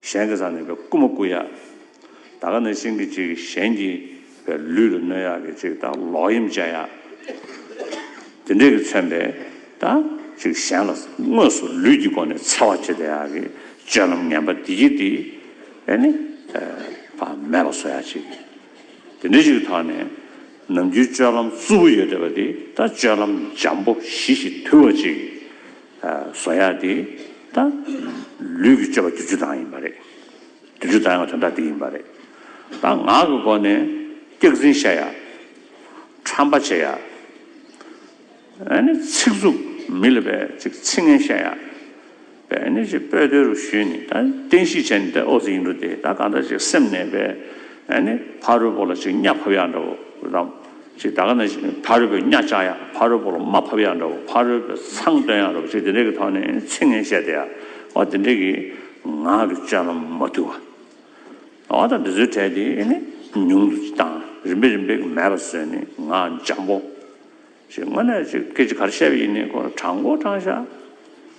གཞན་གྱི་ས་ནས་པའི་རྐུན་མ་རྐུ་ཡག། ད་ག་ནས་ཤིང་གི་ཅིག་གཞན་གྱི་པའི་ལུས་ལ་གནོད་ཡག་གི་ཅིག་ད་ལོག་གཡེམ་བྱ་ཡག། དེ་འདྲས་ཀྱི་མཚོན་པས་ད་ཅིག་གཞན་ལ་དངོས་སུ་ལུས་ཀྱི་སྒོ་ནས་འཚེ་བ་བྱེད་ད་ཡག་གི་སྤྱོད་ལམ་ངན་པ་འདི་སྐྱེ་འདི་ཨེ་ནི་པ་མེད་པ་བཟོ་ཡག་ཅིག་དེ་འདྲས་ཅིག་ཐོག་ནས་ནམ་རྒྱུན་སྤྱོད་ལམ་རྩུབ་པོ་ཡོད་ད་པ་འདི་ད་སྤྱོད་ལམ་འཇམ་པོ་ཞི་ཞིག་དུལ་བ་ཅིག་བཟོ་ཡ་དེ་ད་ལུས་ཀྱི་སྤྱོད་པ་བདུན་ཅུ་དང་ཡིན་པ་རེད། བདུན་ཅུ་དང་ཡང་དོན་དག་དེ་ཡིན་པ་རེད། ད་ངག་གི་སྒོ་ནས་སྐྱག་རྫིན་བཤད་ཡ། ཁྲམ་པ་བྱེད་ཡ། ཨ་ནི་ཚིག་རྩུབ་མི་ལ་བས་ཅིག་ཚིག་ངན་བཤད་ཡ། བས་ཨ་ནི་ཅིག་སྤོས་དོལ་རུ་ཞུས་ནས་ད་བསྟན་གཤིས་བྱས་ནས་ད་ཨོ་ཙི་ཡིན་འགྲོ་དེ་ད་གང་འདྲ་ཅིག་སེམས་ནས་བས་ཨ་ནི་ཕ་རོལ་པོ་ལ་ཅིག་གཉའ་ཕབ་ཡ་འདྲ་བོ་རམ། ཅེས་ད་ག་ནས་ཕ་རོལ་པོས་གཉའ་བཅག་ཡ་ཕ་རོལ་པོ་ལ་མ་ཕབ་ཡ་འདྲ་བོ་ཕ་རོལ་པོས་མཚང་བཏོན་ཡ་འདྲ་བོ་ཅེས་དེ་འདྲའི་གི་ཐོག་ནས་ཚིག་ངན་བཤད་དེ་ཡ་བ་དེ་འདྲའི་གི་ང་གི་སྤྱོད་ལམ་མ་བརྟུལ་བ་བ་དང་འདི་ཚོའི་གྲས་དེ་ནི་ཉུང་དུ་དང་རིམ་པས་རིམ་པས་གི་མེད་པ་བཟོས་ནས་ང་འཇམ་པོ་ཞེས་དངོས་གནས་ཅིག་སྐད་ཅིག་ག་རེ་བཤད་པ་ཡིན་ནི་ཁོ་དྲང་གོ་དྲང་བཤད།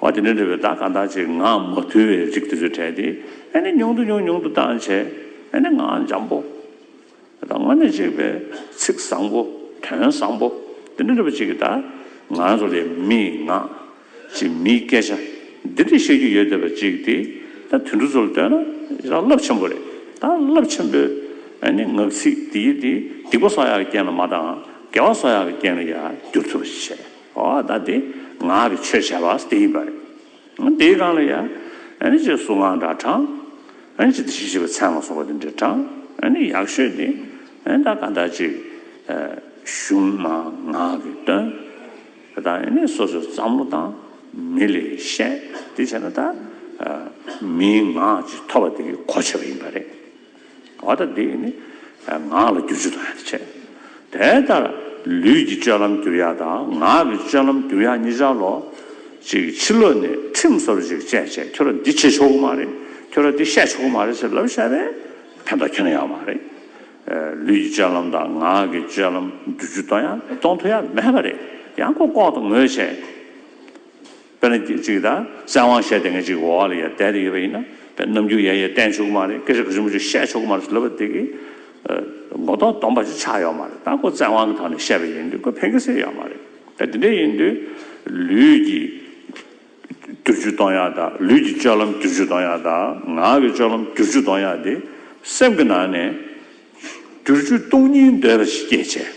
འོ་དེ་འདྲ་འདྲ་བའི་བརྡ་གང་དག་ཅིག་ངག་མ་ཐུལ་བའི་རིགས་དེ་ཚོས་དྲན་ཏེ་ཨེ་ནི་ཉུང་དུ་ཉུང་ཉུང་དུ་བཏང་བྱས་ཨེ་ནི་ངག་འཇམ་པོ་དང་དངོས་གནས་གཅིག་པའི་ཚིག་བཟང་པོ་དོན་བཟང་པོ་འདི་འདྲ་འདྲ་བ་ཅིག་གི་བརྡ་ང་ཚོ་ལས་མི་ངག་ཅིག་མིའི་སྐད་ཆ་འདི་འདྲ་བཤད་རྒྱུ་ཡོད་བསྡད་པ་ཅིག་སྟེ་ད་དུད་འགྲོ་ཚོ་ལ་ལྟོས་ན་ཡི་རང་རླབས་ཆེན་པོ་རེད་ད་རླབས་ཆེན་པོའི་ཨེ་ནི་ངག་ཚིག་འདི་ཡིས་ཏེ་སྡིག་པ་སོགས་ཡག་གི་རྐྱེན་ལ་མ་བཏང་འགལ་བ་སོགས་ཡག་གི་རྐྱེན་ལ་ཡང་བསྒྱུར་ཐུབ་པ་ཞིག་བྱས། ཨོ་ད་དེ་ངག་གི་ཆོས་བྱ་བ་དེ་ཡིན་པ་རེད། དེའི་སྒང་ལ་ཡང། ཨེ་ཅེ་གཟུགས་སྔགས་འདྲ་དྲངས། ཨེ་ཅེ་དེ་བཞིན་གཤེགས་པའི་མཚན་མ་སོགས་པ་དེ་འདྲ་དྲངས། ཡག་ཤོས་དེ། ད་ག་འདྲ་ཅིག། གཞུང་མ་ངག་གིས་སྟོན། ད་ནི་སོ་སོའི་བསམ་བློ་དང། མི་ལས་བཤད། དེ་བྱས་ན་ད། མིའི་ངག་ཅིག་ཐོབ་པ་དེ་གོ་ཆོད་པ་ཡིན་པ་རེད། བ་དང་འདིས་ནི་ངག་ལ་རྒྱུ་བཅུ་དང་ཡང་བྱེད། དེ་ལྟར་ལུས་ཀྱི་སྤྱོད་ལམ་གྱུར་ཡང་དང་ངག་གི་སྤྱོད་ལམ་གྱུར་ཡང་གཉིས་ཆར་ལོ། ཅིག་ཕྱི་ལོ་ནས་ཁྲིམས་གསར་བ་ཞིག་སྤྱད་ཅེས་ཁྱོད་ར་འདི་བྱེད་ཆོག་གི་མ་རེད་ཁྱོད་ར་འདི་བཤད་ཆོག་གི་མ་རེད་ཟེར་ལབ་བཤད་པས་ཕན་ཐོགས་ཁྱོན་ཡངས་བ་རེད། ལུས་ཀྱི་སྤྱོད་ལམ་དང་ངག་གི་སྤྱོད་ལམ་རྒྱུ་བཅུ་དང་ཡང་གཏོང་ཐུ་ཡ་མེད་པ་རེད་ཡང་ཀོ་ཀོག་དང་ངོས་བྱས། དཔེར་ན་གཅིག་དང། བཙན་དབང་བཤད་དེ་ངས་གཅིག་འོག་ལ་ཡ་བསྡད་དེ་ཡོད་པ་ཡིན་ན། དཔེར་ན་ནམ་རྒྱུན་ཡ་ཡ་བསྟན་ཆོག་གི་མ་རེད་སྐད་ཆ་ག་ཚོད་མ་ཚོད་བཤད་ཆོག་གི་མ་རེད་ཟེར་ལབ་པ་དེ་གིས། མགོ་ཐོག་སྡོམ་པ་ཞིག་ཆགས་ཡོད་མ་རེད་ད་ཁོ་བཙན་དབང་གི་ཐོག་ནས་བཤད་པ་ཡིན་དུས་ཁོས་ཕན་ཁེ་སེ་ཡོད་མ་རེད། དེ་འདྲ་ཡིན་དུས། ལུས་ཀྱི། བསྟུར་ཆུ་གཏོང་ཡག་དང་ལུས་ཀྱི་སྤྱོད་ལམ་བསྟུར་ཆུ་གཏོང་ཡག་དང་ངག་གི་སྤྱོད་ལམ་བསྟུར་ཆུ་གཏོང་ཡག་དེ། སེམས་ཀྱི་ནང་ནས། བསྟུར་ཆུ་གཏོང་སྙིང་འདོད་པ་ཞིག་སྐྱེད་བྱེད།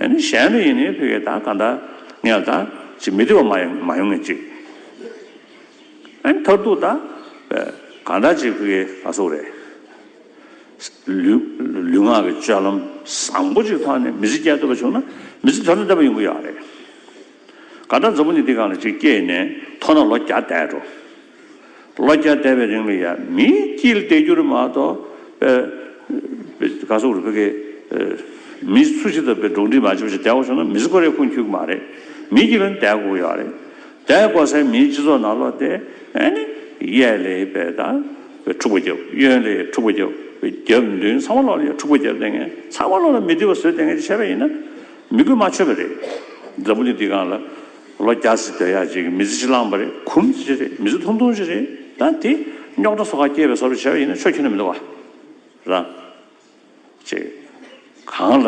ཨེ་ནི་གཞན་ལ་ཡིན་ནི་ཕི་ཀའི་དག་ག་འདའ། ངས་དག་ཅིག་མི་བདེ་བ་མ་ཡོང་ངེས་ཅིག། ཨེ་ནི་མཐར་ཐུག་དག་ག་འདའ་ཅིག་ཕི་ཀའི་ག་སོགས་རེད། ལུས་ངག་གི་སྤྱོད་ལམ་བཟང་པོ་ཅིག་ཐོག་ནས་མི་ཚེ་བསྐྱལ་འདོད་པ་བྱུང་ན་མི་ཚེ་དོན་དུ་འདས་པ་ཡོང་གི་ཡོད་རེད། དགའ་ལྡན་རྫོང་པོ་ནི་འདི་ག་ལ་ཅིག་སྐྱེས་ནས་མཐོ་ན་ལོ་བརྒྱ་འདས་འགྲོ། ལོ་བརྒྱ་འདས་པའི་རིང་ལ་ཡ་མི་སྐྱིལ་ཏེ་རྒྱུ་རུ་མ་གཏོགས། དགའ་ཚོགས་རུ་ཕེ་ཁེ། མི་སུ་ཞིག་དང་བེ་འགྲོགས་འདྲིས་མ་བྱེད་པ་ཞིག་འདས་གོ་སོང་ན་མི་སུ་ཁོ་རེ་ཁུངས་འཁྱུག་གི་མ་རེད། མི་སྐྱིལ་ལ་ནི་འདས་གོ་གི་ཡོད་རེད། འདས་གོ་སའི་མིའི་སྤྱི་ཚོགས་ནང་ལོག་སྟེ། ཨེ་ནི། གཡས་ལས་བེ་དང། བེ་འཁྲུག་པ་རྒྱབ། གཡོན་ལས་འཁྲུག་པ་རྒྱབ། བེ་རྒྱབ་མདུན་ཚང་མ་ལོག་ལ་ཡ་འཁྲུག་པ་རྒྱབ་ལྟས་ངན། ཚང་མ་ལོག་ལ་མི་བསྡུས་པ་བཟོས་ལྟས་ངན་ཅིག་བྱས་པ་ཡིན་ན། མི་དགོས་མ་ཆོད་པ་རེད། འཛམ་བུ་གླིང་འདི་གང་ལ། ལོ་བརྒྱ་ཟིག་སྡོད་ཡག་ཅིག་མི་ཚེ་ཅིག་བླངས་པ་རེད་གུམ་ཚེ་ཅིག་རེད་མི་ཚེ་ཐུང་ཐུང་ཅིག་རེད་ད་དེ། རྙོག་དྲ་སོ་ཁ་སྐྱེལ་བའི་སོར་བྱེད་པ་ཡིན་ན་ཆོས་ཁྱོད་ལ་མི་འདུག་ག། རང། ཅེས། གང་ལ།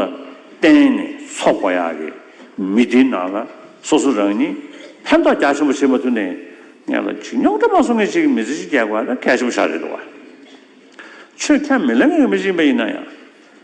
བརྟེན་ནས་འཚོ་དགོས་ཡག་གི། མི་འདི་ནང་ལ། སོ་སོ་རང་ཉིད། ཕན་ཐོག་རྒྱ་ཆེན་པོ་བྱེད་མ་ཐུབ་ནས། ངན་ལ་ཅིག་རྙོག་དྲ་མ་བཟོ་ངེས་ཅིག་མི་ཚེ་ཅིག་སྐྱེལ་དགོས་ཡག་ན་གལ་ཆེན་པོ་ཞག་རེད་འདུག་ག། ཆོས་ཁྱོད་མི་ལ་ངེས་ངེས་མི་ཅིག་ཡིན་པ་ཡིན་ན་ཡང།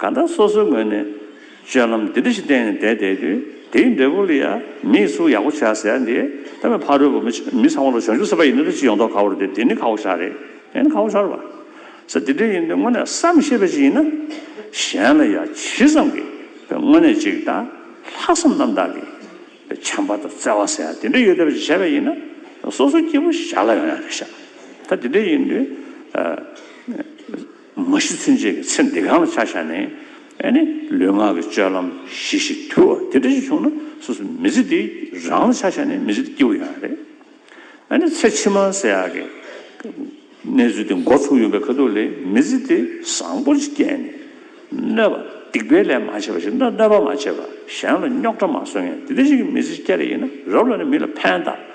གང་ལྟར་སོ་སོའི་ངོས་ནས་སྤྱོད་ལམ་འདི་འདྲ་ཞིག་བསྟན་ནས་བསྡད་བསྡད་དུས་དེའི་འབྲས་བུ་ལ་ཡང་མིས་གསུངས་ཡག་པོ་བྱས་ཟེར་ཡ་འདི་ད་མི་ཕ་རོལ་པོ་མི་ཚང་མ་ལ་གཞོན་སྐྱུག་ཟེར་བ་ཡིན་ན་འདྲ་ཅི་ཡོང་མདོག་ཁ་བོར་དེ་འདི་ནི་ཁ་བོ་ཞག་རེད་དེ་ནི་ཁ་བོ་ཞོར་བ་ཟེར་འདི་འདྲ་ཡིན་དུས་དངོས་གནས་བསམ་ཤེས་པ་ཞིག་ཡིན་ན་གཞན་ལ་ཡང་ཇི་ཙམ་གྱིས་པའི་དངོས་གནས་ཅིག་དང་ལྷག་བསམ་རྣམ་དག་གིས་པའི་བྱམས་པ་དང་བརྩེ་བ་ཟེར་ཡ་འདི་འདྲ་ཡོད་བསྡད་པ་ཞིག་བྱས་པ་ཡིན་ན་སོ་སོའི་སྐྱེ་བོ་ཞར་ལ་ཡོང་ཡ་རེད་ཤག་ད་འདི་འདྲ་ཡིན་དུས། མ་གཞི་ཚུན་ཆད་ཀྱི་ཚེ་འདི་གང་ལ་ཆ་བཞག་ནས་ནི་ལུས་ངག་གི་སྤྱོད་ལམ་གཞི་ཞིག་དུལ་བ་དེ་འདྲ་ཞིག་བྱུང་ན་སོ་སོ་མི་ཚེ་འདི་རང་ལ་ཆ་བཞག་ནས་མི་ཚེ་འདི་སྐྱེལ་བ་ཡང་རེད། ནི་ཚེ་ཕྱི་མ་ཟེར་ཡག་གི་གནས་ཚུལ་དེ་འགོ་ཚུགས་ཡོང་པའི་ཁ་ཐུག་ལས་མི་ཚེ་འདི་བཟང་པོ་ཞིག་སྐྱེལ་ནས་གནོད་པ་སྡིག་པའི་ལས་མ་བྱས་པ་ཞིག་ན་གནོད་པ་མ་བྱས་པ་གཞན་ལ་རྙོག་དྲ་མ་བཟོ་མཁན་དེ་འདྲ་ཞིག་གི་མི་ཚེ་སྐྱེལ་རེ་ཡིན་ན་རབ་ལ་ནི་མི་ལ་ཕན་གདགས།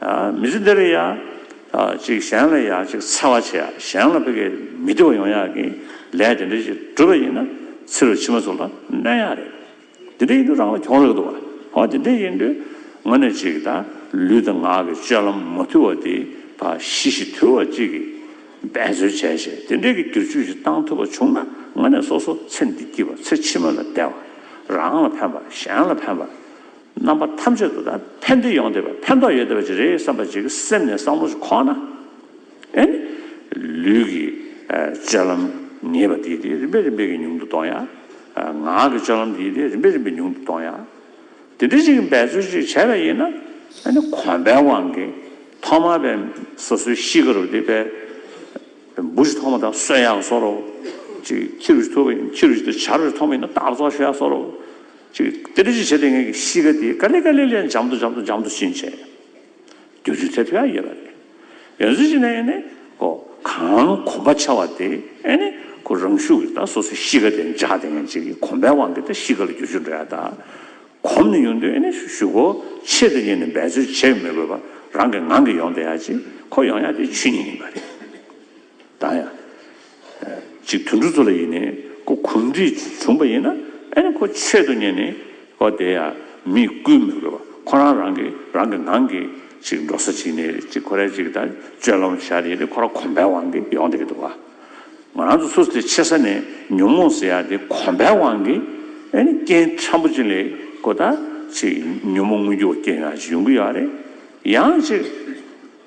མི་ཚེ་འདིར་ཡང་ཅིག་གཞན་ལ་ཡང་ཅིག་འཚེ་བ་བྱེད་གཞན་ལ་ཕི་གེ་མི་བསྟི་བ་ཡོང་ཡག་གི་ལས་དེ་འདྲ་ཅིག་བསྒྲུབ་པ་ཡིན་ན་ཚེ་རུ་ཕྱི་མ་ཚོ་ལ་གནོད་ཡག་རེད། དེ་འདྲ་ཡིན་དུས་རང་ལ་གྱོང་རག་འདུག་བ། དེ་འདྲ་ཡིན་དུས་ངོ་ནས་ཅིག་ད་ལུས་དང་ངག་གི་སྤྱོད་ལམ་མ་དུལ་བ་དེ་ད་ཤི་ཤི་དུལ་བ་ཅིག་གིས་འབད་རྩོལ་བྱས་བྱས་དེ་འདྲས་ཀྱི་བསྒྱུར་བཅོས་ཅིག་བཏང་ཐུབ་པ་བྱུང་ན་ངོ་ནས་སོ་སོ་ཚེ་འདི་སྐྱིད་པ་ཚེ་ཕྱི་མ་ལ་བདེ་བ་རང་ལ་ཕན་པ་གཞན་ལ་ཕན་པ། རྣམ་པ་ཐམས་ཅད་དུ་ད་ཕན་བདེ་ཡོང་བསྡད་པ་ཕན་ཐོགས་ཡོད་བསྡད་པ་ཅིག་རེད་བསམ་པ་ཅིག་སེམས་ནས་བསམ་བློ་ཅིག་ཁོག་ན་ཨེ། ལུས་ཀྱི་སྤྱོད་ལམ་ངེས་པ་དེ་དེ་རིམ་པས་རིམ་པས་ཀྱིས་ཉུང་དུ་གཏོང་ཡ། ངག་གི་སྤྱོད་ལམ་དེ་དེ་རིམ་པས་རིམ་པས་ཉུང་དུ་གཏོང་ཡ། དེ་འདྲ་ཅིག་གི་འབད་རྩོལ་ཅིག་བྱས་པ་ཡིན་ན་ཨེ་གོམས་པའི་དབང་གིས་ཐོག་མར་པའི་སོ་སོའི་གཤིས་ཀ་རུ་དེ་པའི་འབུ་ཅིག་ཐོག་མ་ད་གསོད་ཡག་གསོ་རོགས་ཅིག་ཁྱི་རུ་ཅིག་ཐུག་པ་ཡིན་ན་ཁྱི་རུ་ཅིག་ད་བྱ་རོགས་ཅིག་ཐོག་མ་ཡིན་ན་སྟག་ཚོགས་ཤོད་ཡག་གསོ་རོགས། ཅིག། དེ་ལས་ཅི་བྱེད་དེ་ངེད་ཀྱི་གཤིས་ཀ་འདི་ཀ་ལི་ཀ་ལི་ལི་འཇམ་དུ་འཇམ་དུ་འཇམ་དུ་ཕྱིན་ཆད། དུས་ཚོད་དེ་ཕལ་ཡོད་པ་རེད། ཡང་གཟུགས་གཞི་ནས་ཨེ་ནི། ཁོ། གང་གོམས་པ་ཆེ་བ་དེ་ཨེ་ནི། ཁོ་རང་ཤུགས་ཀྱིས་ད་སོ་སོའི་གཤིས་ཀ་དེ་འཇགས་དེ་ངེད་ཅིག་གིས་གོམས་པའི་དབང་གིས་ད་གཤིས་ཀ་ལ་རྒྱུ་ཆུ་འདྲ་ཡང་ད། གོམས་ནས་ཡོང་དུས་ཨེ་ནི་ཞུ་ཞུ་ཁོ་ཆེད་དུ་ཉིད་ནས་འབད་རྩོལ་བྱེད་མི་དགོས་པར་རང་གིས་ངང་གིས་ཡོང་དེ་ཡག་ཅིག་ཁོ་ཡོང་ཡག་དེ་ཆོས་ཉིད་ཡིན་པ་རེད། དང་ཡང། ཅིག་དུད་འགྲོ་ཚོ་ལ་ཡིན་ནི་ཁོ་གུམ་བསྒྲིགས་བྱུང་བ་ཡིན་ན་ཨེ་ནི་ཁོ་ཆེད་དུ་ཉན་ནི་ཨོ་དེ་ཡང་མི་བསྐུལ་མི་དགོས་པ་ཁོ་རང་རང་གི་རང་གི་ངང་གིས་ཅིག་འགྲོ་ས་ཅིག་ནི་ཅིག་ཁོ་རས་ཅིག་དང་སྤྱོད་ལམ་བཞག་ཡིན་ནི་ཁོ་རང་གོམས་པའི་དབང་གིས་ཡོང་དེ་གི་འདུག་བ། ང་རང་ཚོ་སུ་སྟེ་ཆེ་ས་ནས་ཉོན་མོངས་ཟེར་ཡག་དེ་གོམས་པའི་དབང་གིས་ཨེ་ནི་རྐྱེན་ཕྲན་བུ་ཅིག་ལས་ཁོ་ད་ཅིག་ཉོན་མོངས་དངོས་རྒྱུ་བ་རྐྱེན་ཡག་ཅིག་ཡོང་གི་ཡག་རེད་ཡང་ཅིག།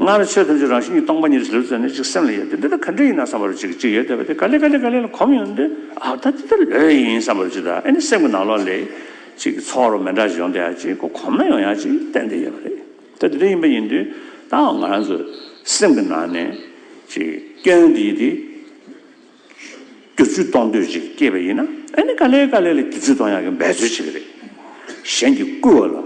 སྔར་ནི་ཆོས་ཐམས་ཅད་རང་བཞིན་གྱིས་སྟོང་པ་ཉིད་དུ་ཟིལ་བཙིར་ནས་ཅིག་སེམས་ལ་ཡོད་དེ་འདི་ལྟར་ག་འདྲ་ཡིན་ན་བསམ་པར་ཅིག་ཅིག་ཡོད་དེ་བ་དེ་ག་ལས་ག་ལས་ག་ལས་ལ་གོམས་ཡོང་དུས་ཨ་ད་འདི་ལྟར་ལོས་ཡིན་བསམ་པར་ཅིག་དང་ཨེ་ནི་སེམས་ཀྱི་ནང་ལོགས་ལས་ཅིག་ཚོགས་རོ་མེ་འདྲ་ཞིག་ཡོང་དེ་ཡང་ཅིག་གོ་གོམས་ན་ཡོང་ཡང་ཅིག་བསྟན་དེ་ཡོད་པ་རེད་ད་འདི་འདྲ་ཡིན་པ་ཡིན་དུས་ད་འང་ང་རང་ཚོའི་སེམས་ཀྱི་ནང་ནས་ཅིག་སྐྱོན་འདི་ཡིན་དེ། བསྒྱུར་བཅོས་གཏོང་འདོད་ཅིག་སྐྱེས་པ་ཡིན་ན་ཨ་ནི་ག་ལེ་ག་ལེ་ལ་བསྒྱུར་བཅོས་གཏོང་ཡག་གི་འབད་རྩོལ་བྱེད་ཀྱི་རེད། གཞན་གྱིས་བསྐུལ་བ་ལ་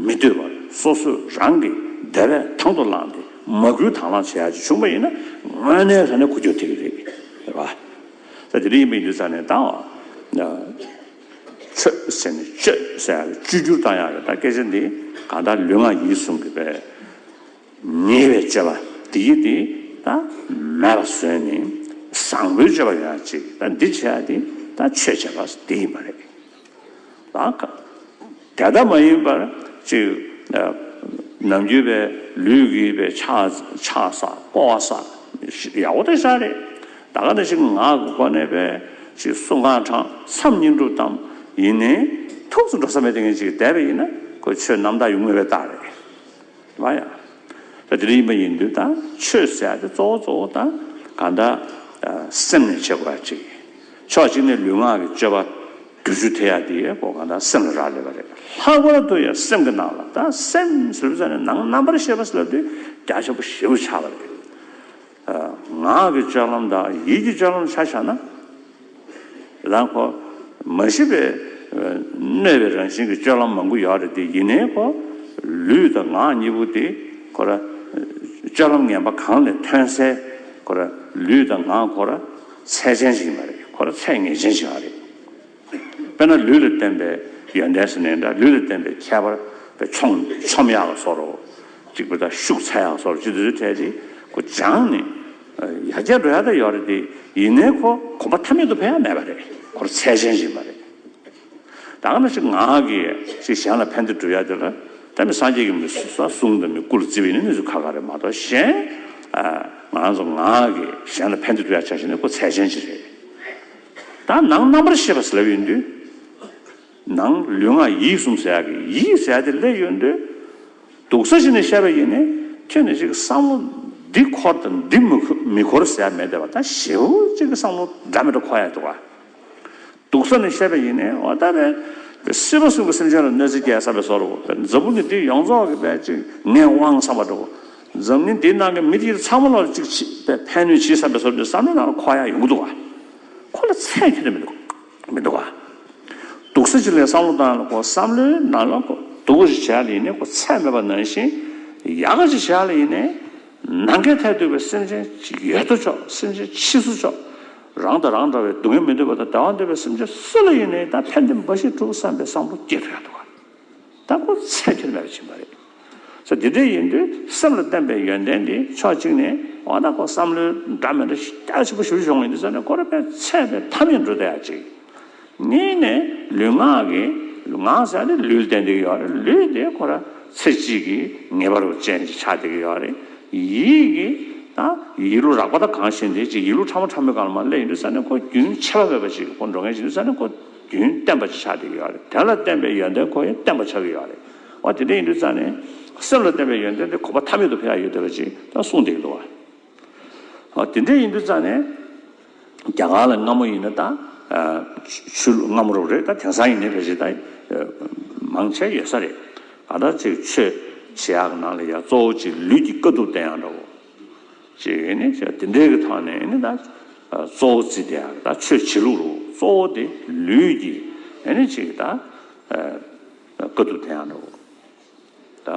མི་ལྟོས་པར་སོ་སོས་རང་གི་དེ་བས་དང་དུ་བླངས་ཏེ་མ་བསྐུལ་དང་བླངས་བྱེད་ཡག་ཅིག་བྱུང་པ་ཡིན་ན་དངོས་གནས་ས་གནས་འཁོར་རྒྱུག་ཐེབས་ཀྱི་རེད། རེད་བ། ད་དེ་རིང་ཡིན་པའི་ཡིན་དུས་ས་གནས་དང་བ། ཆོས་ཟེར་ནས་སྤྱོད་ཟེར་ཡག་གི་བཅོས་བསྒྱུར་གཏང་ཡག་གི་ད་སྐད་ཆ་འདི་གང་ལྟར་ལུས་ངག་ཡིད་གསུམ་གྱི་བས། ཉེ་བའི་སྤྱོད་པ་དེ་ཡིས་དེ་མེད་པར་བཟོས་ནས་བཟང་པོའི་སྤྱོད་པ་ཡོད་ན་ཅིག་འདི་བྱས་པ་དེ་ཆོས་བྱས་པ་དེ་ཡིན་པ་རེད། དེ་ལྟ་མ་ཡིན་པར་ཅིག་ནམ་རྒྱུན་པའི་ལུས་ཀྱི་པའི་ཆགས་བསགས་སྤོ་བ་བསགས་ཡག་པོ་དེ་བཞག་རེད། ད་ག་ནས་ཅིག་ངག་གི་སྒོ་ནས་པའི་ཅིག་གསུང་ཁང་དྲང་མཚམས་གཉིས་འགྲུབ་དམ་ཡིན་ནས་ཐུགས་སུ་འགྲོ་ས་མེད་དེ་ངས་ཅིག་བསྡད་པ་ཡིན་ན་ཁོས་ཆོས་རྣམ་དག་ཡུལ་དངོས་པའི་རྟགས་རེད། ལ་ཡང། དེ་རིགས་ཡིན་པ་ཡིན་དུས་དང་ཆོས་ཟད་དེ་གཙོ་བོ་གཙོ་བོ་དང་གང་དག། སེམས་ནི་བྱེད་པ་གཅིག་ཡིན། ཕྱོགས་གཅིག་ནས་ལུས་ངག་གི་སྤྱོད་པ། དུས་བཅུ་དེ་ཡང་དེ་ཡི་གོ་གང་དག་སེམས་ལ་རག་ལས་པ་རེད། ལྷག་པར་དུ་ཡང་སེམས་ཀྱི་ནང་ལ་དང་སེམས་ཟུར་ཟ་ནི་ནང་རྣམ་པར་ཤེས་པ་ཟེར་ལ་དུས་རྒྱ་ཆེན་པོ་ཞེས་པར་བྱ་བ་རེད། ངག་གི་ལྕགས་ལམ་དང་ཡིད་ཀྱི་ལྕགས་ལམ་ཆ་བཞག་ན། རང་གོ། མ་ཤི་བའི། གནོད་པའི་རང་བཞིན་གྱི་སྤྱོད་ལམ་མང་པོ་ཡོད་རེད་དེ་ཡིན་ནའི་གོ། ལུས་དང་ངག་གཉིས་པོ་དེ་གོ། སྤྱོད་ལམ་ངན་པ་གང་ལས་ཐོན་སའི་གོ། ལུས་དང་ངག་གོ། ཚད་ཅན་ཞིག་མ་རེད་གོ། ཚད་ངེས་ཅན་ཞིག་རེད། དཔེར་ན་ལུས་ལ་བརྟེན་པའི་ཡོན་ཏན་སེར་སྣའི་འདྲ་ལུས་ལ་བརྟེན་པའི་ཁྱད་པར་བའི་ཆོམ་ཆོམ་ཡག་ལ་སོགས་རོ། གཅིག་པུ་དང་ཤུགས་ཚད་ཡག་སོགས་རོ་ཅི་འདི་ཚོའི་གྲས་ཏེ་གོ། སྦྱངས་ནི། ཡ་གྱལ་འགྲོ་ཡ་ད་ཡོད་རེད་དེ་ཡིན་ནའི་ཁོ་གོམ་པ་ཐ་མལ་དུ་འཕེན་ཡ་མེད་པ་རེད་ཁོར་ཚད་ཅན་ཞིག་ཡིན་པ་རེད། དང་ན་ཞིག་ངག་གིས་ཞིག་གཞན་ལ་ཕན་བདེ་བསྒྲུབ་ཡ་དེ་ལ་ད་མི་སངས་རྒྱས་ཀྱི་མི་གསུང་དང་མི་སྐུ་ལ་བརྩི་བའི་ནི་གནས་ཚུལ་ཁ་ཁ་རེད་མ་གཏོགས་གཞན། ང་རང་ཚོ་ངག་གིས་གཞན་ལ་ཕན་བདེ་བསྒྲུབ་ཡ་བྱ་ཞིག་ནི་ཁོ་ཚད་ཅན་ཞིག་རེད། དང། ནང་རྣམ་པར་ཤེས་པ་སལ་ཡོད་འདུས། ནང་ལུས་ངག་ཡིད་གསུམ་ཟད། ཡིད་ཟད་དེ་སླད་ཡོད་འདུས། དུག་ས་གཞི་ནས་ཤར་བའི་ཡེ་ནས་ཁྱོད་ནི་གཅིག་བསམ་བློ། འདི་འཁོར་དང་འདི་མི་འཁོར་ཟད་མེད་བདེ་བ་དང་བཞི། གཅིག་བསམ་བློ་སྒྲ་མི་སྒྲ་འཁོར་ཡང་དུག། དུག་ས་ནས་ཤར་བའི་ཡེ་ནས་འོ་ད་པས། སྲིད་པ་གསུམ་གྱི་སེམས་ཅན་ལ་གནོད་འཚེ་བསྐྱལ་བསམ་པའི་བཟོ་རུ། འཛམ་བུ་གླིང་འདི་ཡོངས་རྫོགས་ཀྱི་པས་གཅིག་ངས་དབང་བསམ་པ་འགྲུབ། འཛམ་གླིང་འདིའི་ནང་གི་མི་དེ་ཚང་མ་ལ་ལ་ཅིག་ཅིག་པའི་ཕན་ནུས་ཇི་ཟབ་པའི་སོར་འདི་བསམ་བློའི་ནང་ལ་འཁོར་ཡ་ཡོང་གི་འདུག་བ། ཁོ་ལ་ཚད་མཁས་དེ་མི་འདུག་མི་འདུག་བ། དུག་སེལ་ཅིག་ལས་བསམ་བློ་དང་ལ་ཀོ་བསམ་བློའི་ནང་ལ་ཀོ་དུག་གོ་ཞིག་བྱས་ཡ་ལ་ཡིན་ནའི་ཀོ་ཚད་མེད་པ་ནང་བཞིན་ཡ་ག་ཅིག་བྱས་ཡ་ལ་ཡིན་ནའི། ནང་གའི་ཐད་དུག་པའི་སེམས་ཅན་ཅིག་ཡོད་དོ་ཅོག་སེམས་ཅན་ཕྱིས་སུ་ཅོག་རང་དང་རང་འདྲ་བའི་སྡུག་བསྔལ་མི་འདོད་པ་དང་བདེ་བ་འདོད་པའི་སེམས་ཅན་སུ་ལ་ཡིན་ནའི་ད་ཕན་བདེ་འབའ་ཞིག་འགྲུབ་བསམ་པའི་བསམ་བློ་སྐྱེ་ཐུབ་ཡ་འདུག་བ། ལྟ་བུ་ཚད་མཐོའི་ལས་ལ་ཕྱིན་པ་རེད། ཚེ་འདི་འདྲའི་ཡིན་དུས་སེམས་ལ་བརྟན་པའི་ཡོན་ཏན་འདི་ཕྱོགས་གཅིག་ནས་འོ་ན་ཁོ་བསམ་བློའི་འདྲ་མི་འདྲ་རྒྱ་ཆེན་པོ་ཞུ་ཞོག་ངེས་འདི་ཟེར་ནས་ཁོ་རེ་ཕན་ཚད་པའི་མཐའ་མི་འགྲོ་ད་ཡ་གཅིག། གཉིས་ནས་ལུས་ངག་གི། ངག་ཟེར་ནས་ལུས་བསྟན་དེ་གི་ཡོག་རེད་ལུས་དེ་ཁོ་ར་ཚེ་གཅིག་གི་ངེས་པ་རུ་ཅན་གྱི་ཆ་དེ་གི་ཡོག་རེད། ཡིད་ཀྱི། ད་ཡིད་ལུས་རགས་པ་ད་གང་ཞིག་འདི་གཅིག་ཡིད་ལུས་ཕྲ་མོ་ཕྲ་མོའི་སྒང་ལ་མ་སླེབས་ཡིན་དུས་ཟེར་ནས་ཁོ་རྒྱུན་ཆད་པ་མེད་པ་ཞིག་གི་ཁོ་འགྲོ་མཁན་ཞིག་འདུག་ཟེར་ནས་ཁོ། རྒྱུན་གཏན་པ་ཆགས་ཏེ་ཡོད་རེད་དོན་ལ་བརྟེན་པའི་ཡོན་ཏན་ཁོ་ཡོན་ཏན་པ་ཆགས་ཀྱི་ཡོད་རེད་འོ་དེ་འདྲ་ཡིན་དུས་ཙང་ནས་སེམས་ལ་བརྟེན་པའི་ཡོན་ཏན་དེ་ཁོ་པ་ཐ་མལ་དུ་ཕེབས་ཡ་ཡོད་དེ་བ་ཅིག་ད་གསུངས་བསྡད་ཀྱི་འདུག་བ་དེ་འདྲ་ཡིན་དུས་ཙང་ནས་རྒྱ་གར་ལ་སྔ་མོ་ཡིན་ན་ད་ཆུ་ལུག་སྔ་མོ་རུ་རེད་ད་དེང་སང་ཡིན་ནས་བ་ཅིག་ད་མང་ཆེ་ཡོད་ས་རེད་ད་ལྟ་ཅིག་ཆོས་བྱེད་ཡག་ནང་ལ་ཡ་གཙོ་བོ་ཅིག་ལུས་ཀྱི་དཀའ་ཐུབ་བསྟན་ཡག་འདྲ་བོ། ཅེས་ནི་བཤད། དེ་འདྲའི་ཐ་ནས་ནི་ད་གཙོ་བོ་ཙི་ཏེ་ཨ་ད་ཆོས་བྱེད་ལུགས་རུ་གཙོ་བོ་དེ་ལུས་ཀྱི་ནི་ཅིག་ད་ཀ་ཏུ་དེ་ཡང་འགྲོ། ད་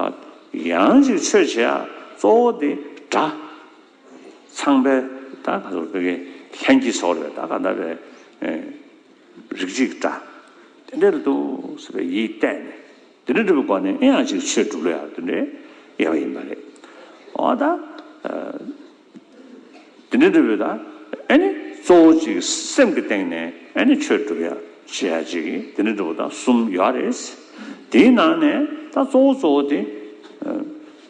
ཡང་ཅིག་ཆོས་བྱེད་ཨ་གཙོ་བོ་དེ་སྒྲ། ཚངས་པའི་ད་ག་ཏུ་ཀའི་ལྷན་སྐྱེས་སོགས་རེད་ད་ག་ད་རེ་རིགས་ཅིག་སྒྲ། དེ་འདྲའི་ལ་དུ་ཟེར་བའི་ཡིད་གཏད་ནས། དེ་འདྲ་སྒྲུབ་པ་ནི་ཨེ་ཡང་ཅིག་ཆོས་སྒྲུབ་ལ་ཡང་དེ་འདྲའི་ཡང་ཡིན་པ་རེད། འོ་ད། དེ་འདྲའི་སྒྲུབ་པའི་ད་ཨེ་ནི་གཙོ་བོ་ཅིག་སེམས་ཀྱི་སྟེང་ནས་ཨེ་ནི་ཆོས་སྒྲུབ་ཡང་ཅི་ཡང་ཅིག་དེ་འདྲའི་སྒྲུབ་པ་ད་གསུམ་ཡོད་རེད། དེའི་ནང་ནས་ད་གཙོ་བོ་གཙོ་བོ་དེ།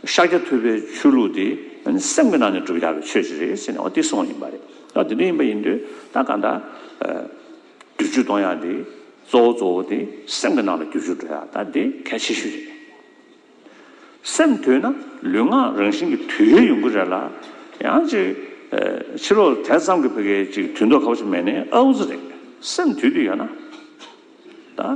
ཤཱཀྱ་ཐུབ་པའི་ཆོས་ལུགས་དེ་ཨེ་ནི་སེམས་ཀྱི་ནང་ནས་སྒྲུབ་ཡག་པའི་ཆོས་ཅིག་རེད་ཟེར་ནས་འོ་དེ་གསུམ་ཡིན་པ་རེད། འོ་དེ་འདྲ་ཡིན་པ་ཡིན་དུས་ད་ག་འདྲ། བསྡུ་རྒྱུ་གཏོང་ཡག་དེ་གཙོ་བོ་གཙོ་བོ་དེ་སེམས་ཀྱི་ནང་ལ་བསྒྱུར་བཅོས་འགྲོ་ཡག་ད་དེ་གལ་ཆེ་ཤོས་རེད། སེམས་དུལ་ན་ལུས་ངག་རང་བཞིན་གྱི་དུལ་ཡས་ཡོང་གི་རེད་ལ། ཡང་ཅིག་ཕྱི་ལོགས་དེ་ཙམ་གྱི་བོད་སྐད་ཅིག་དུལ་མདོག་ཁ་བོ་ཅིག་མེད་ནས་ཨ་འུ་ཚུ་རེད་སེམས་དུལ་དུལ་ཡོད་ན་ད།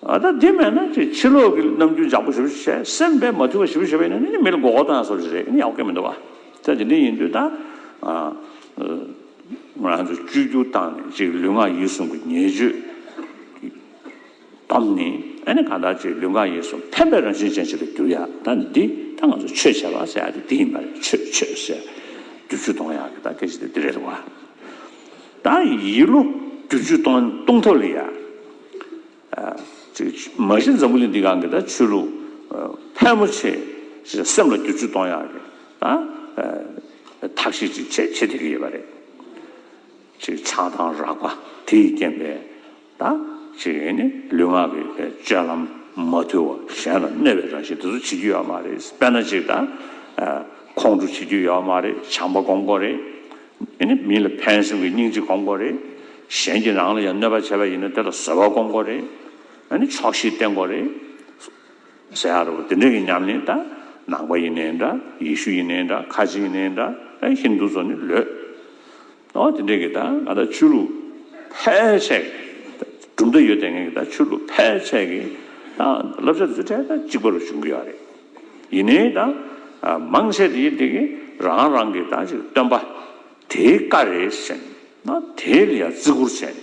ཨ་ད་དེ་མེད་ན་ཁྱོད་ཕྱི་ལོག་གི་ནམ་རྒྱུན་ཇག་པོ་ཞིབ་བཤེར་བྱས་སེམས་པས་མ་ཐུལ་བ་ཞིབ་བཤེར་བྱེད་པ་ཡིན་ན་ནི་མི་ལ་མགོ་སྐོར་བཏང་ས་རེད་ཨེ་ཡག་གི་མི་འདུག་ག་དེ་འདྲ་ཡིན་དུས་ད་ང་རང་ཚོ་བཅོས་བསྒྱུར་བཏང་ནས་ཅིག་ལུས་ངག་ཡིད་གསུམ་གྱི་ཉེས་སྤྱོད་ཀྱི་དོམ་ནི་ཨ་ནི་གང་ལྟར་ཅིག་ལུས་ངག་ཡིད་གསུམ་ཕན་པའི་རང་བཞིན་ཅན་ཞིག་ཏུ་འགྱུར་ཡག་ད་ནི་འདི་ད་ང་ཚོ་ཆོས་བྱེད་པ་ཟེར་ཡག་དེ་འདི་ཡིན་པ་རེད་ཆོས་ཆོས་ཟེར་རྒྱུ་བཅུ་གཏོང་ཡག་གི་ད་སྐད་ཆ་དེ་འདི་རེད་འདུག་ག་ད་ཡིད་བློ་རྒྱུ་བཅུ་གཏོང་ཐབས་ལ་ཡག། མ་གཞི་འཛམ་བུ་གླིང་འདི་གང་གི་ད་ཆོས་ལུགས་ཕལ་མོ་ཆེ་ཞིག་སེམས་ལ་འགྱུར་བཅོས་གཏོང་ཡག་གི་ད་ཐག་གཤིས་ཅིག་བྱེད་བྱེད་བསྡད་ཀྱི་ཡོད་པ་རེད། ཆགས་སྡང་རགས་པ་དེ་ཡི་རྐྱེན་པས་ད་ལུས་ངག་གི་སྤྱོད་ལམ་མ་དུལ་བ་གཞན་ལ་གནོད་པའི་རང་བཞིན་དེ་ཚོ་བྱེད་རྒྱུ་ཡོད་མ་རེད། དཔེར་ན་ཅིག་ད་ཁོང་ཁྲོ་བྱེད་རྒྱུ་ཡོད་མ་རེད་བྱམས་པ་སྒོམ་དགོས་རེད། དེ་ནི་མི་ལ་ཕན་སེམས་ཀྱི་སྙིང་རྗེ་སྒོམ་སྐོར་རེད། གཞན་གྱི་རང་ལ་ཡང་གནོད་པ་བྱས་པ་ཡིན་ན་དེ་ལ་བཟོད་པ་སྒོམ་སྐོར་རེད། ནི་ཆོག་ཤེས་བསྟེན་སྐོར་རེད། ཟེར་ཡ་རོ། དེ་འདྲ་ཡིན་སྙམ་ནས་ད། ནང་པ་ཡིན་ནའི་འདྲ། ཡེ་ཤུ་ཡིན་ནའི་འདྲ། ཁ་ཆེ་ཡིན་ནའི་འདྲ། ཨེ་ཧིན་དུ་ཚོ་ནི་ལོས། ཨོ་དེ་འདྲས་ཀྱི་ད་ང་ད་ཆོས་ལུགས། ཕལ་ཆེར། གྲུབ་མཐའ་ཡོད་དེ་ངས་ཀྱི་ད་ཆོས་ལུགས་ཕལ་ཆེར་གྱི། ད་བསླབ་བྱ་བརྫུས་བྲལ་ད་གཅིག་པ་རུ་བྱུང་གི་ཡོད་རེད། ཡིན་ནའི་ད། མང་ཆེ་དེ་དེ་གི་རང་རང་གི་ད་ཅིག་སྟོན་པ། དེའི་བཀའ་རེད་ཟེར་ན་དེ་ལ་ཡང་བརྩི་བཀུར་བྱས།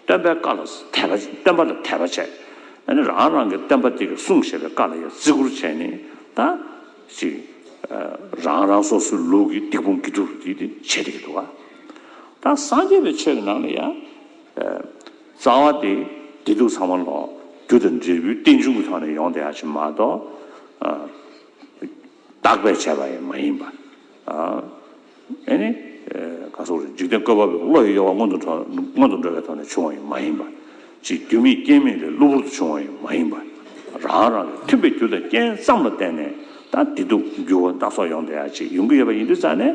སྟོན་པའི་བཀའ་ལ་དད་པ་སྟོན་པ་ལ་དད་པ་བྱས། ད་ནི་རང་རང་གི་སྟོན་པ་དེ་གི་གསུང་བཤད་པའི་བཀའ་ལ་ཡང་བརྩི་བཀུར་བྱས་ནས་ད་ཅིག། རང་རང་སོ་སོའི་ལུགས་ཀྱི་སྡིག་སྤོང་དགེ་སྒྲུབ་དེ་དེ་བྱས་དེ་གི་འདུག་ག། ད་སངས་རྒྱས་པའི་ཆོས་ཀྱི་ནང་ལ་ཡང། རྩ་བ་དེ་བདེ་སྡུག་ཚང་མ་ལོག་རྒྱུ་དང་འབྲས་བུའི་རྟེན་འབྱུང་གི་ཐོག་ནས་ཡོང་བསྡད་ཡག་ཆེ་མ་གཏོགས། བརྟག་པས་བྱས་པ་ཡང་མ་ཡིན་པར། ཨེ་ནི། ག་སོགས་རེད་འཇིག་རྟེན་བཀོད་པ་པོས་བློ་ཡི་གཡོ་བ་སྔོན་དུ་སྔོན་དུ་འགྲོ་བའི་ཐོག་ནས་བྱུང་བ་ཡང་མ་ཡིན་པར། ཅིག་རྒྱུ་མེད་རྐྱེན་མེད་ལས་གློ་བུར་དུ་བྱུང་བ་ཡང་མ་ཡིན་པར། རང་རང་གི་མཐུན་པའི་རྒྱུ་དང་རྐྱེན་ཙམ་ལ་བརྟེན་ནས་ད་བདེ་སྡུག་འགྱུར་བ་སྣ་ཚོགས་ཡོང་བསྡད་ཡག་ཅིག་ཡོང་གི་ཡོད་པ་ཡིན་དུས་རྩ་ནས།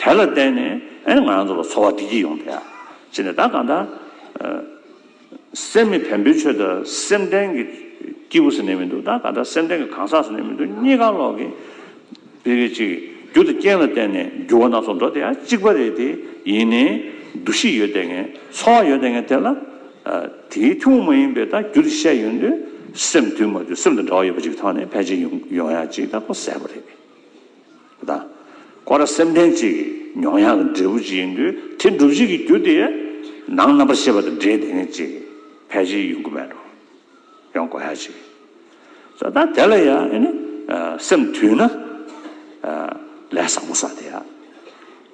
དེ་ལ་བརྟེན་ནས་ཨེ་ང་ཚོ་ལ་འཚོ་བ་བདེ་སྐྱིད་ཡོང་སྟེ་ཨ་ཅེ་ནས་ད་གང་ལྟར་སེམས་མི་ཕན་པོའི་ཆོས་དང་སེམས་ལྡན་གྱི་སྐྱིད་པོ་ཟེར་ནས་མི་འདུག་ད་གང་ལྟར་སེམས་ལྡན་གྱི་གང་ཟག་ཟེར་ནས་མི་འདུག་གཉིས་ཀ་ལོག་གི་བེ་རེད་གཅིག་རྒྱུ་དང་རྐྱེན་ལ་བརྟེན་ནས་འགྱུར་བ་སྣ་ཚོགས་འགྲོ་དེ་ཡང་གཅིག་པ་རེད་དེ་ཡིན་ནས་འདུ་ཤེས་ཡོད་དེ་ངན་འཚོ་བ་ཡོད་དེ་ངན་དེ་ལ་དེའི་ཐུན་མོང་མ་ཡིན་པའི་ད་རྒྱུ་དེ་བཤད་ཡོད་འདུག་སེམས་དུལ་མ་དུལ་སེམས་དང་འདྲ་བ་ཡོད་པ་ཅིག་གི་ཐོག་ནས་ཕལ་ཆེར་ཡོང་ཡོང་ཡ་གཅིག་ད་ཁོ་གསལ་པོ་རེད། དང། ཁོ་ར་སེམས་ལྡན་གཅིག་གི་མྱོང་ཡངས་ཀྱི་འབྲས་བུ་གཅིག་ཡིན་དུས་དེ་འགྲུབ་བྱེད་ཀྱི་རྒྱུ་དེ་ནང་རྣམ་པར་ཤེས་པ་དང་འབྲེལ་དེ་ནི་གཅིག་ཕལ་ཆེར་ཡོང་གི་མེད་དོ། ཡོང་དགོས་ཧ་ཅིག་ཟེར་ད་དེ་ལ་ཡང་ཨ་ནི་སེམས་དུས་ན་ལས་བཟང་པོ་བཟའ་དེ་ཡ།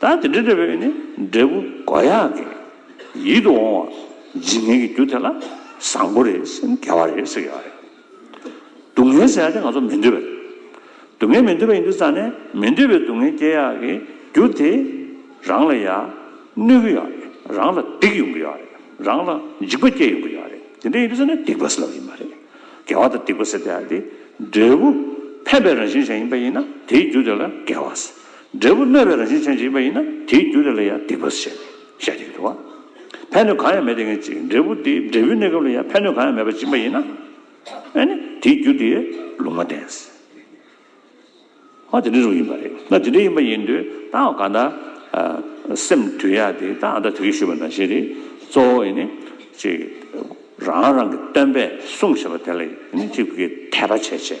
ད་དེ་འདྲའི་འབྲེལ་བའི་ནི་འབྲས་བུ་མགོ་ཡག་གི་ཡིད་དུ་འོང་བ་འཇིག་ངེས་ཀྱི་རྒྱུ་དེ་ལ་བཟང་པོ་རེད་ཟེར་ནས་འགལ་བ་རེད་ཟེར་གྱི་ཡོད་རེད། སྡུག་བསྔལ་ཟེར་བ་དེ་ང་ཚོ་མི་འདོད་པ་རེད། སྡུག་བསྔལ་མི་འདོད་པ་ཡིན་དུས་ཙང་ནས་མི་འདོད་པའི་སྡུག་བསྔལ་སྐྱེ་ཡག་གི་རྒྱུ་དེ་རང་ལ་ཡག་གནོད་ཀྱི་ཡོད་རེད་རང་ལ་སྡིག་ཡོང་གི་ཡོད་རེད་རང་ལ་འཇིག་པ་སྐྱེ་ཡོང་གི་ཡོད་རེད་དེ་འདྲ་ཡིན་དུས་ཙང་ནས་སྡིག་པ་ཟེར་བ་ཡིན་པ་རེད། དགེ་བ་དང་སྡིག་པ་ཟེར་བ་དེ་འབྲས་བུ་ཕན་པའི་རང་བཞིན་གཞན་ཡིན་པ་ཡིན་ན་དེའི་རྒྱུ་དེ་ལ་འགལ་བ་ཟེར། འབྲས་བུ་གནོད་པའི་རང་བཞིན་ཅན་ཅིག་པ་ཡིན་ན་དེའི་རྒྱུ་དེ་ལ་ཡང་སྡིག་པ་བྱས་ནས་ཤ་རྒྱག་རྒྱུ། ཕན་གནོད་གང་ཡང་མེད་དེ་ངེས་ཅིག་འབྲས་བུ་དེ་འབྲས་བུའི་གནས་སྐབས་ལ་ཡང་ཕན་གནོད་གང་ཡང་མེད་པ་ཅིག་པ་ཡིན་ན། དེའི་རྒྱུ་དེ་ལུང་མ་བསྟན། ཧོ་དེ་འདྲའི་རུང་ཡིན་པ་རེད་ན་དེ་འདྲའི་ཡིན་པ་ཡིན་དུས་ད་འོ་ག་ད། སེམས་དུལ་ཡག་དེ་ད་ཨ་མདའ་དེ་གས་ཞུས་པ་འདྲ་ཞེས་དེ་གཙོ་བོ་ཡིན་ནི། ཅིག། རང་རང་གི་སྟོན་པས་གསུངས་ཞེས་པ་དེ་ལ་ཡིན་ནི་ཅིག་གིས་དད་པ་བྱས་བྱས།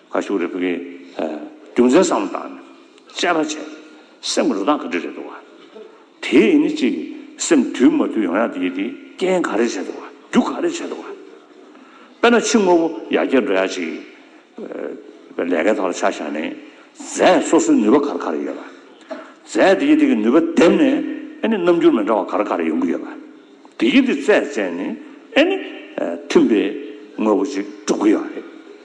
ཁ་ཤུ་རེད་བུ་གི། རྒྱུ་མཚན་བསམ་བློ་བཏང་ནས་དཔྱད་པ་བྱས། སེམས་རུ་དྭགས་ག་འདྲི་རེད་འདུག་བ། དེའི་ཡིན་ནི་ཅིག། སེམས་དུལ་མ་དུལ་ཡང་ཡང་དེ་ཡིན་དེ་རྐྱེན་ག་རེ་བྱས་འདུག་བ། རྒྱུ་ག་རེ་བྱས་འདུག་བ། དཔེར་ན་ཕྱི་དངོས་པོ་ཡར་རྒྱས་འགྲོ་ཡག་ཅིག། ལས་ཀའི་ཐོག་ལ་ཆ་བཞག་ནས། རྫས་སོ་སོའི་ནུས་པ་ག་རེ་ག་རེ་ཡོད་བ། རྫས་དེ་ཡི་དེ་གི་ནུས་པ་འདེམས་ནས་ཨེ་ནི་རྣམ་འགྱུར་མི་འདྲ་བ་ག་རེ་ག་རེ་ཡོང་གི་ཡོད་བ། དེ་ཡི་དེ་རྩད་བཙལ་ནས་ཨེ་ནི། མཐུན་པའི་དངོས་པོ་ཅིག་གྲུབ་གི་ཡོད་རེད།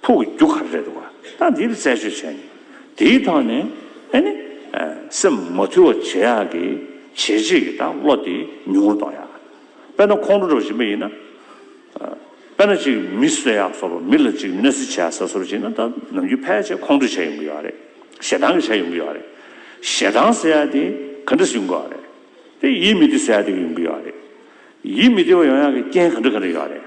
ཕུག་གི་རྒྱུ་ག་རེ་རེད་བ་ད་འདིར་བཙལ་བྱོས་བྱས་ནས་དེའི་ཐོག་ནས་ཨེ་ནི་སེམས་མ་ཐུལ་བ་བྱེད་ཡག་གི་བྱེད་བྱེད་ཀྱི་ད་བློ་དེ་ཉུང་ངུ་གཏོང་ཡག་དཔེར་ན་ཁོང་ཁྲོ་འགྲོ་བ་ཞིག་མ་ཡིན་ན་དཔེར་ན་ཅིག་མི་གསོད་ཡག་སོ་རུ་མི་ལ་ཅིག་གནོད་འཚེ་བྱེད་ཡག་ས་སོ་རུ་བྱེད་ན་ད་ནམ་རྒྱུན་ཕལ་ཆེར་ཁོང་ཁྲོ་བྱས་ཡོང་གི་ཡོད་རེད་ཞེ་སྡང་གི་བྱས་ཡོང་གི་ཡོད་རེད་ཞེ་སྡང་ཟེར་ཡག་དེ་ག་འདྲ་ཞིག་ཡོང་གི་ཡོད་རེད་དེ་ཡིད་མི་བདེ་ཟེར་ཡག་དེ་ཡོང་གི་ཡོད་རེད་ཡིད་མི་བདེ་བ་ཡོང་ཡག་གི་རྐྱེན་ག་འདྲ་ག་འདྲ་ཡོད་རེད།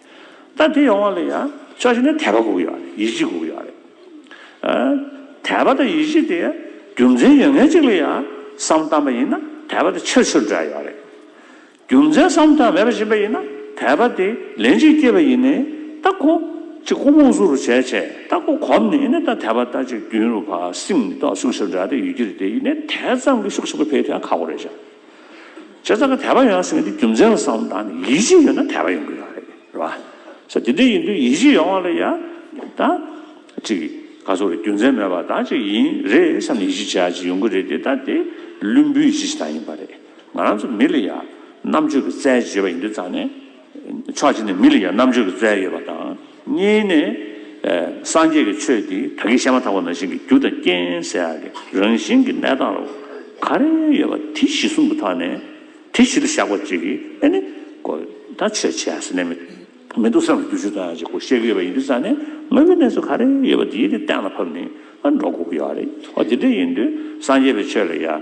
ད་དེ་ཡོང་བ་ལ་ཡང་ཕྱོགས་གཞན་ནས་དད་པ་འགུགས་ཡོད་རེད་ཡིད་ཆེས་འགུགས་ཡོད་རེད། དད་པ་དང་ཡིད་ཆེས་དེ་རྒྱུ་མཚན་ཡོད་ངེས་ཅིག་ལ་ཡང་བསམ་བཏང་པ་ཡིན་ན་དད་པ་དེ་ཆིར་ཆིར་འདྲ་ཡོད་རེད། རྒྱུ་མཚན་བསམ་ཐབས་མེད་པ་བཞིན་པ་ཡིན་ན་དད་པ་དེ་ལན་གཅིག་སྐྱེས་པ་ཡིན་ནས་ད་ཁོ་གཅིག་ཁོ་རྨོངས་གཟུགས་རུ་བྱས་བྱས་ད་ཁོ་གོམས་ནས་ཡིན་ན་ད་དད་པ་ད་ཅིག་རྒྱུན་རུ་བ་སིང་ནས་ད་ཤུགས་ཆིར་འདྲ་དེ་ཡོད་ཀྱི་རེད་དེ་ཡིན་ནས་དེ་ཙམ་གྱི་ཤུགས་ཆེན་པོ་འཕེལ་དུ་ཡང་ཁག་པོ་རེད་བྱ། བྱས་ཙང་ཁ་དད་པ་ཡོང་ཟེར་གི་འདི་རྒྱུ་མཚན་ལ་བསམ་བློ་བཏང་ནས་ཡིད་ཆེས་ཡོད་ན་དད་པ་ཡོང་གི་ཡོད་རེད་རེད་བ། ས་དེ་འདྲ་ཡིན་དུས་ཡིད་ཆེས་ཡོང་བ་ལ་ཡང་ད་ཅིག་ག་ཚོགས་ལ་རྒྱུ་མཚན་མེད་པར་ད་ཅིག་ཡིན་རེད་བསམ་ནས་ཡིད་ཆེས་བྱེད་ཡ་ཅིག་ཡོང་གི་རེད་དེ་ད་དེ་བླུན་པོའི་ཡིད་ཆེས་བྱེད་སྟངས་ཡིན་པ་རེད། ང་རང་ཚོ་མི་ལ་ཡང་རྣམ་དཔྱོད་ཀྱི་རྩལ་བརྗོད་པ་ཡིན་དུས་ཙང་ནས། ཕྱོགས་གཅིག་ནས་མི་ལ་ཡང་རྣམ་དཔྱོད་ཀྱི་རྩལ་ཡོད་པ་དང། གཉིས་ནས། སངས་རྒྱས་ཀྱི་ཆོས་འདི་ད་གིན་བཤད་མ་ཐག་པ་ན་བཞིན་གྱི་རྒྱུ་དང་རྐྱེན་ཟེར་ཡག་གི་རང་བཞིན་གྱི་གནས་སྟངས་ལ་ག་རེ་ཡོད་པ་དེ་གཞི་གསུམ་དུ་ཐག་ནས་དེ་གཞི་ལ་བཞག་པ་གཅིག་གིས་ཨེ་ནི། གོ་ད་ཆོས་བྱས་ཟེར་ནས་མི་འདུག་བསམ་གྱི་རྒྱུ་ཆོས་ཐོན་ཡག་ཅིག་གོ་བཤད་གི་ཡོད་པ་ཡིན་དུས་ས་ནས་དངོས་པོའི་གནས་ཚུལ་ག་རེ་ཡོད་པ་དེ་གཏན་ལ་ཕབ་ནས་འགྲོ་དགོས་ཀྱི་ཡོད་རེད། འོ་དེ་འདྲ་ཡིན་དུས་སངས་རྒྱས་པའི་ཆོས་ལ་ཡང།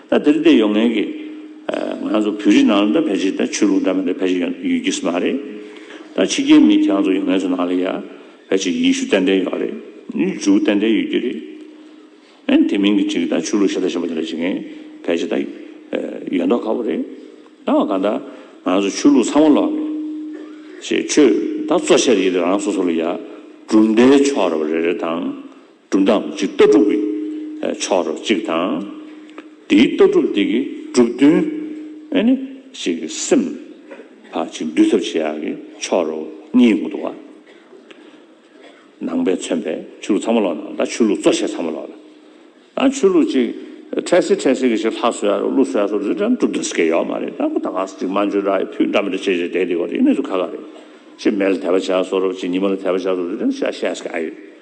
ད་དེར་བལྟས་ཡོང་ངེས་ཀྱི། ང་ཚོ་བོད་རིགས་ནང་ལ་འདྲ་བལ་རིགས་དང་ཆོས་ལུགས་འདྲ་མི་འདྲ་བལ་རིགས་ཡོད་ཡོད་ཀྱིས་མ་རེད། ད་ཕྱི་རྒྱལ་མི་གྱང་ཚོ་ཡོང་ངེས་ཚོ་ནང་ལ་ཡ། བལ་ཆེ་ཡེ་ཤུ་ཏན་ཏན་ཡོད་རེད། ནི་འཇུག་ཏན་ཏན་ཡོད་ཀྱི་རེད། ཨན་དེ་མིན་གྱི་ཅིག་ད་ཆོས་ལུགས་ཞེ་ད་ཞེ་པ་འདི་འདྲ་བྱེད་མཁན་བལ་ཆེ་ད། ཡོད་མདོག་ཁ་བོ་རེད། ད་བ་གང་ད། ང་ཚོ་ཆོས་ལུགས་ཚང་མ་ལོག་ནས། ཞེས་ཆོས་ད་གཙོ་ཆེར་ཡེ་དེ་རང་སོ་སོ་ལ་ཡ། གྲུབ་མཐའི་ཕྱོགས་ར་བ་རེ་རེ་དང། གྲུབ་མཐའ་འམ་ཅིག་ལྟ་གྲུབ་ཀྱི་ཕྱོགས་རོ་གཅིག་དང། དེའི་ལྟ་གྲུབ་དེ་ཀྱི་གྲུབ་དོན་ཨེ་ནི་ཞིག་གི་སེམས་ཕ་ཅིག་འདུལ་ཐབས་བྱེད་ཡག་གི་ཕྱོགས་རོ་གཉིས་འུ་ཐུག་བ། ནང་པའི་མཚོན་པས་ཆོས་ལུགས་ཚང་མ་ལོག་ན་ད་ཆོས་ལུགས་གཙོ་བྱས་ཚང་མ་ལོག་ལ། ད་ཆོས་ལུགས་ཅིག་འཕྲལ་སེལ་འཕྲལ་སེལ་གྱི་ཞིག་ལྷ་གསོལ་ཡག་རོ་ཀླུ་གསོལ་ཡག་སོགས་རིགས་གྲངས་གྲུབ་དོན་སྐད་ཡོག་མ་རེད་ད་ཁོ་ད་ག་ས་ཅིག་མ་འཇོན་ར་ཡི་ཕུད་འདྲ་མི་འདྲ་བྱེད་བྱེད་བསྡད་བསྡད་གོ་རེ་གནས་ཚུལ་ཁ་ཁ་རེད། ཅིག་མལ་དལ་བ་བྱས་ཡག་སོགས་རོ་ཅིག་ཉི་མ་ལ་དལ་བ་བྱས་ཡག་སོགས་རིགས་གྲངས་ཤ་ཤ་ཟ་གི་ཨ་ཡོད།